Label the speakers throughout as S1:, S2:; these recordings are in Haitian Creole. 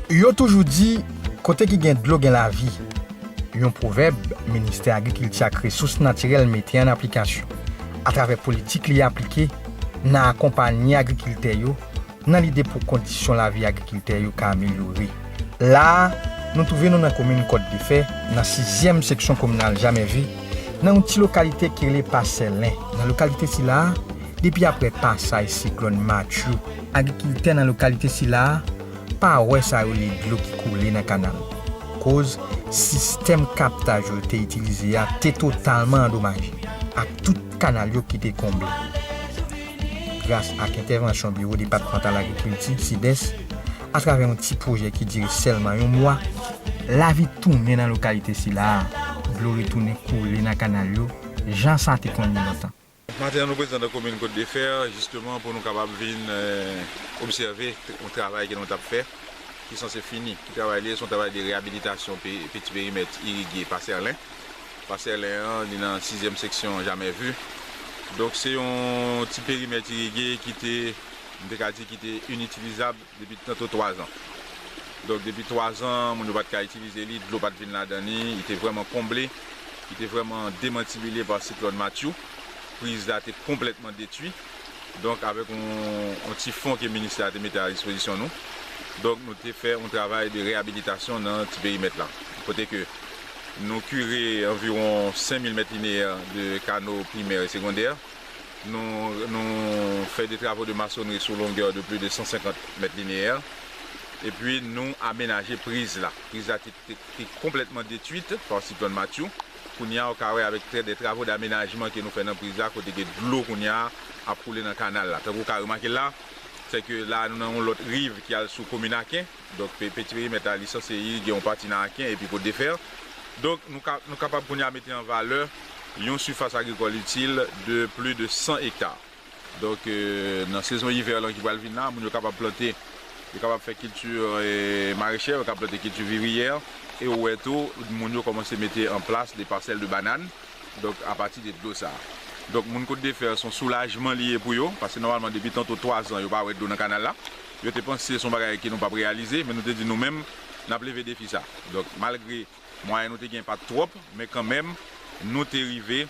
S1: Yo toujou di, kote ki gen dlo gen lavi, yon pwovèb Ministè Agrikilti ak Resous Natirèl mete an aplikasyon atravè politik li aplike nan akonpanye agrikiltè yo Nan lide pou kondisyon lavi agrikiltè yo ka amelyore, la a, nou twouve nou nan komin Kòt Defè, nan sizyèm seksyon kominal Jamèvi, nan yon ti lokalite ki rele Pasèlen. Nan lokalite sila a, depi apre pasaj siklòn Matthew, agrikiltè nan lokalite sila a pa wè sa yo rele dlo ki koule nan kanal, koz sistèm kaptaj yo te itilize a te totalman andomaje, ak tout kanal yo ki te konble. gras ak entèvansyon Biwo Depatmantal Agrikilti, CDES, atravè yon ti pwojè ki dire sèlman yon mwa, lavi tounen nan lokalite sila a, dlo retounen koule nan kanal yo jan sa te konn ye lontan. Maten an nou prezan
S2: nan komin Côte de Fer jisteman pou nou kapab vin obsève yon travay ke nou t ap fè ki sanse fini. Ki travay li ye? Se yon travay de reyabilitasyon peti perimèt irige Paserlen. Pasèlen an li nan sizyèm seksyon Jamais Vu. Donk se yon ti perimèt irige ki te, m te ka di ki te initilizab depi tanto twazan. Donk depi twazan moun yo pa t ka itilize li, dlo pa t vin ladan li, li te vrèman konble, li te vrèman demantibile pa siklòn Matthew. Priz la te konplètman detwi. Donk avèk yon ti fon ke ministè a te mete a dispozisyon nou, donk nou te fè yon travay de reyabilitasyon nan ti perimèt la. Kote ke Nou kire anviwon 5 mil mèt lineyè de kano primè e segondè. Nou fè de travo de masonri sou longè de pli de 150 mèt lineyè. Epi nou amenaje priz la. Priz la te konplètman detwit pa siklòn Matthew. Kounye a ou ka wè avèk de travo damenajman ke nou fè nan priz la kote ke dlo kounye a ap koule nan kanal la. Tankou ou ka remake la, se ke la nou nan yon lòt riv ki al sou komin Aken. Donk pe petiremèt la li sanse li gen yon pati nan Aken epi Kot de Fè. Donk nou ka nou kapab kounye a mete an valè yon sifas agrikòl itil de pli de 100 ekta. Donk nan sezon ivè lan ki pral vin la moun yo kapab plante yo kapab fè kilti marechè yo ka plante kilti viriyè e ou wè tou moun yo kòmanse mete an plas de pasèl de banann donk a pati de dlo sa. Donk moun Kot de Fè s on soulajman li ye pou yo paske nòmalman depi tanto 3 zan yo pa wè dlo nan kanal la. Yo te panse se yon bagay ke nou pap reyalize, men nou te di nou menm nap leve defi sa. Donk malgre mwayen nou te gen pat twòp, men kanmenm nou te rive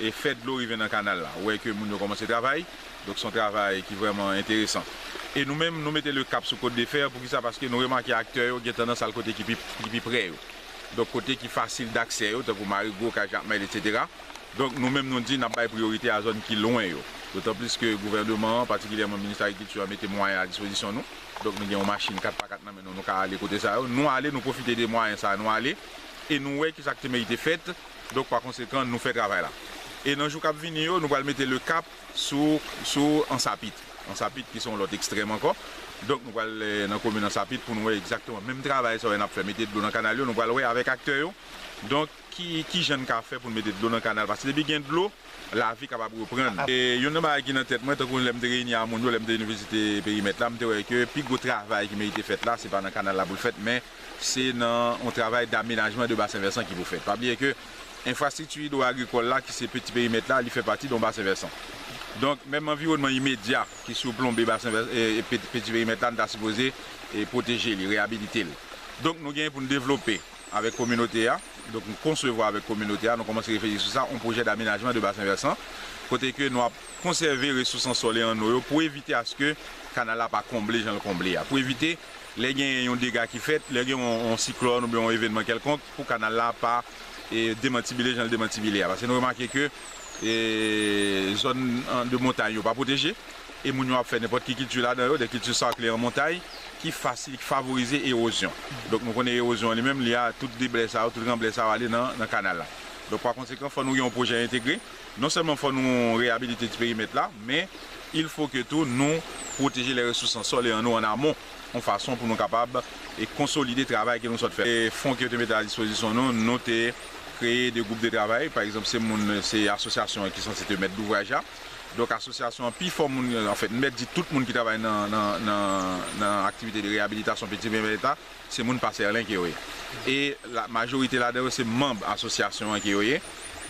S2: e fè dlo rive nan kanal la. Ou wè ke moun yo kòmanse travay, donk se yon travay ki vrèman enteresan. E nou menm nou mete le kap sou Côte de Fer, poukisa? Paske nou remake aktè yo gen tandans al kote ki pi prè yo. Donk kote ki fasil daksè yo, tankou Marigot, Kay Jakmèl, etc. Donk, nou menm nou di n ap bay priyorite a zòn ki lwen yo. Dotanplis ke gouvèneman an, patikilyèman minis agrikilti an mete mwayen a dispozisyon nou. Donk, nou gen yon machin 4 pa 4 nan men nou, nou ka ale kote sa yo. Nou ale, nou pwofite de mwayen sa a, nou ale e nou wè ki sa k te merite fèt. Donk, pakonsekan, nou fè travay la. E nan jou k ap vini yo, nou pral mete lekap sou, sou Ansapit. Ansapit ki se yon lòt ekstrèm ankò. Donk, nou pral nan komin Ansapit pou nou wè egzakteman menm travay sa yo n ap fè, mete dlo nan kanal yo. Nou pral wè avèk aktè yo. Donk. Ki jan n ka fè pou n mete dlo nan kanal? Paske depi gen dlo, lavi kapab reprann. Youn nan bagay ki nan tèt mwen, tankou lè m te reyini a moun yo, lè m te vin vizite perimèt la, m te wè ke pi gwo travay ki merite fèt la, se pa nan kanal la pou l fèt, men se nan yon travay damenajman de basen vèsan ki pou fèt. Pa bliye ke enfrastrikti idwo-agrikòl la, ki se peti perimèt la, li fè pati de yon basen vèsan. Donk, menm anviwònman imedya ki siwplonbe basen vèsan, peti perimèt la, nou ta sipoze pwoteje li, reyabilite l. Donk, nou gen pou n devlope. Avèk kominote a, donk nou konsevwa avèk kominote a, nou kòmanse reflechi sou sa, yon pwojè damenajman de basen vèsan, kote ke nou ap konsève resous an sòl e an no yo pou evite aske kanal la pa konble jan l konble a, pou evite lè genyen yon dega ki fèt, lè gen yon siklòn oubyen yon evènman kèlkonk, pou kanal la pa demantibile jan l demantibile a. Paske nou remake ke zòn de montay yo pa pwoteje. E moun yo ap fè nenpòt ki kilti ladan yo, de kilti sarkle an montay, ki fasil, ki favorize ewozyon. Donk nou konnen ewozyon an li menm, li a tout deblè sa yo, tout ranblè sa yo ale nan nan kanal la. Donk pa konsekan fò nou gen yon pwojè entegre, non sèlman fò nou reyabilite ti perimèt la, men il fo ke tou nou pwoteje lè resous an sòl e an nou an amon, yon fason pou nou kapab e konsolide travay ke nou sòt fè. E fon ke yo te mete a dispozisyon nou, nou te kreye de gwoup de travay, pa egzanp se moun, se asosyasyon an ki sanse te mèt douvraj la. Donk asosyasyon an pi fò moun, anfèt m mèt di tout moun ki travay nan aktivite de reyabilitasyon Petivyen Vèleta se moun Pasèrlen ke yo ye. E majorite ladan yo se manb asosyasyon an ke yo ye.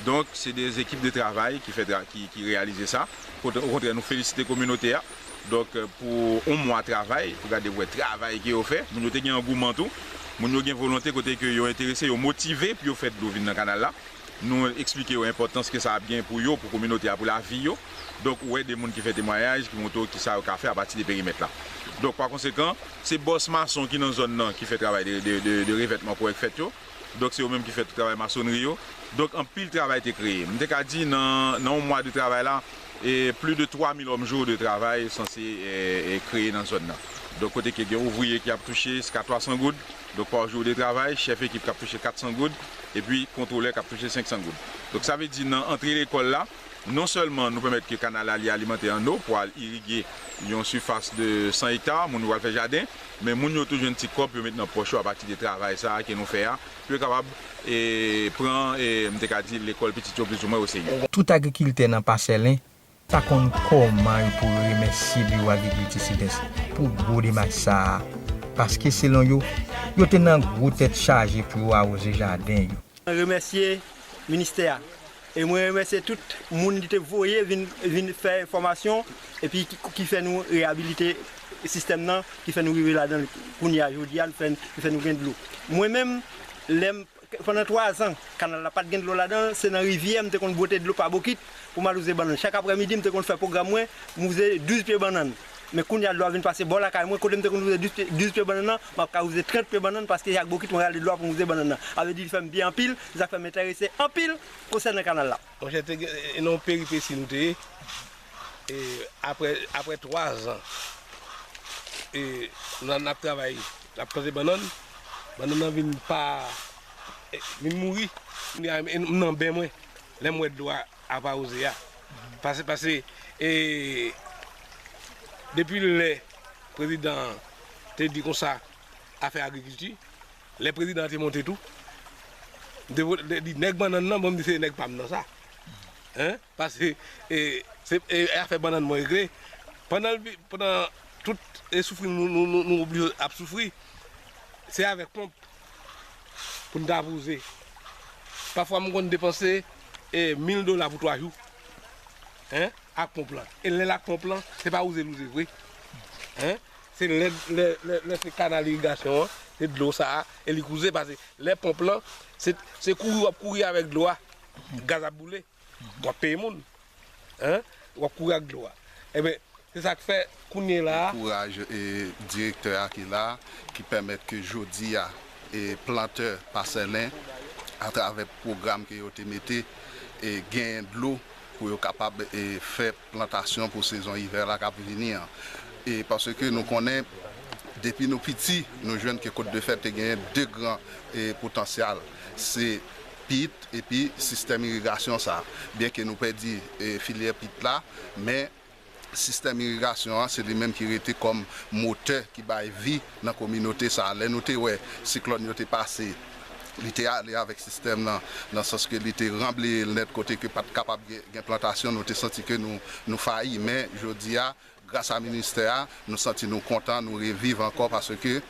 S2: Donk se de ekip de travay ki fè ki reyalize sa. Kote okontrè nou felisite kominote a donk pou yon mwa travay pou gade wè travay ke yo fè. Moun yo te gen angouman tou. Moun yo gen volonte kote ke yo enterese, yo motive pou yo fè dlo vin nan kanal la. Nou eksplike yo enpòtans ke sa ap gen pou yo, pou kominote a, pou lavi yo. Donk, ou wè de moun ki fè temwayaj, ki montre w kisa yo ka fè apati de perimèt la. Donk, pa konsekan, se bòs mason ki nan zòn nan ki fè travay de revètman kòrèk fèt yo. Donk, se yo menm ki fè tout travay masonnri yo. Donk, anpil travay te kreye. M te ka di nan yon mwa de travay la, pli de 3000 òmjou de travay sanse kreye nan zòn nan. Donk, kote ke gen ouvriye ki ap touche jiska 300 goud. Donk pa jou de travay, chèf ekip k ap touche 400 goud, epi kontwolè k ap touche 500 goud. Donk sa vle di nan antre lekòl la, non sèlman nou pèmèt ke kanal la li alimante an no pou al irige yon sifas de 100 ekta, moun yo pral fè jaden, men moun yo tou jwenn ti kòb pou yo met nan pòch yo apati de travay sa a ke nou fè a, pou yo kapab pran, m te ka di, lekòl pitit yo plizoumwen oserye. Tout agrikiltè nan
S1: Pasèlen Pa konn kòman yo pou remèsye Biwo Agrikilti Sidès pou gwo demach sa a, paske selon yo, yo te nan gwo tèt chaje pou yo awoze jaden yo. Mwen remèsye
S3: Ministè a e mwen remèsye tout moun li te voye vin fè fòmasyon epi ki fè nou reyabilite sistèm nan, ki fè nou rive ladan l kounye a, jodi a, li fè nou gen dlo. Mwen menm, lè m. Pandan 3 zan, kanal la pa t gen dlo ladan l, se nan rivyè m te konn bwote dlo pa bokit pou m al wouze bannann. Chak aprè midi m te konn fè pwogram mwen, m wouze 12 pye bannann. Men kounye a dlo a vin pase bò lakay mwen, kote m te konn wouze 12 pye bannann nan, m ap ka wouze 30 pye bannann paske se ak bokit mwen rale dlo a pou m wouze bannann nan. A vle di li fè m byen anpil, se sa k fè m enterese anpil konsènan kanal la. Monchè te gen yon
S4: peripesi nou te ye, aprè 3 zan nou ap travay. Lap kraze bannann, bannann nan vin pa vin mouri. M nan ben mwen lè m wè dlo a ap awoze a. Pase pase e depi lè prezidan an te di konsa afè agrikilti, lè prezidan an te monte tou, m te vole li nèg bannann nan, bon m di se nèg pa m nan sa. Paske se afè bannann mwen regle. Pandan tout soufri nou oblije ap soufri, se avèk ponp pou n ta vouze. Pafwa m konn depanse mil dola pou 3 jou ak ponp lan. E lè l ak ponp lan, se pa wouze l wouze vre. Se lè se kanal irigasyon an, se dlo sa a, e li k wouze. Pase lè ponp lan, se kouri w ap kouri avèk dlo a, gaz ap boule. Wap peye moun hein wap kouri ak dlo a enben se sak fè kounye la. Kouraj
S5: direktè a ki la ki pèmèt ke jodi a plantè pasèlen atravè pwogram ke yo te mete genyen dlo pou yo kapab fè plantasyon pou sezon ivè la kap vini an paske nou konnen depi nou piti nou jwenn ke kotdefè te genyen 2 gran potansyal se pit epi sistèm irigasyon sa. Byenke nou pèdi filyè pit la, men sistèm irigasyon an se li menm ki rete kòm motè ki bay vi nan kominote sa. Lè nou te wè siklòn yo te pase, li te ale avèk sistèm nan, nan sans ke li te ranbleye l nèt kote ke pa t kapab gen plantasyon, nou te santi ke nou fayi. Men jodi a, Gras a ministè a, nou santi nou kontan, nou reviv ankò paske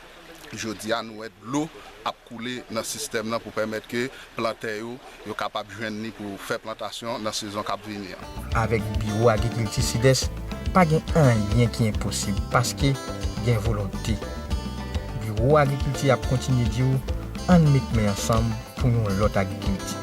S5: jodi a nou wè dlo ap koule nan sistèm nan pou pèmèt ke plantè yo, yo kapab jwenn li pou fè plantasyon nan sezon k ap vini an. Avèk Biwo
S1: Agrikilti Sidès, pa gen anyen ki enposib paske gen volonte. Biwo Agrikilti ap kontinye di ou, ann met men ansanm pou yon lòt agrikilti.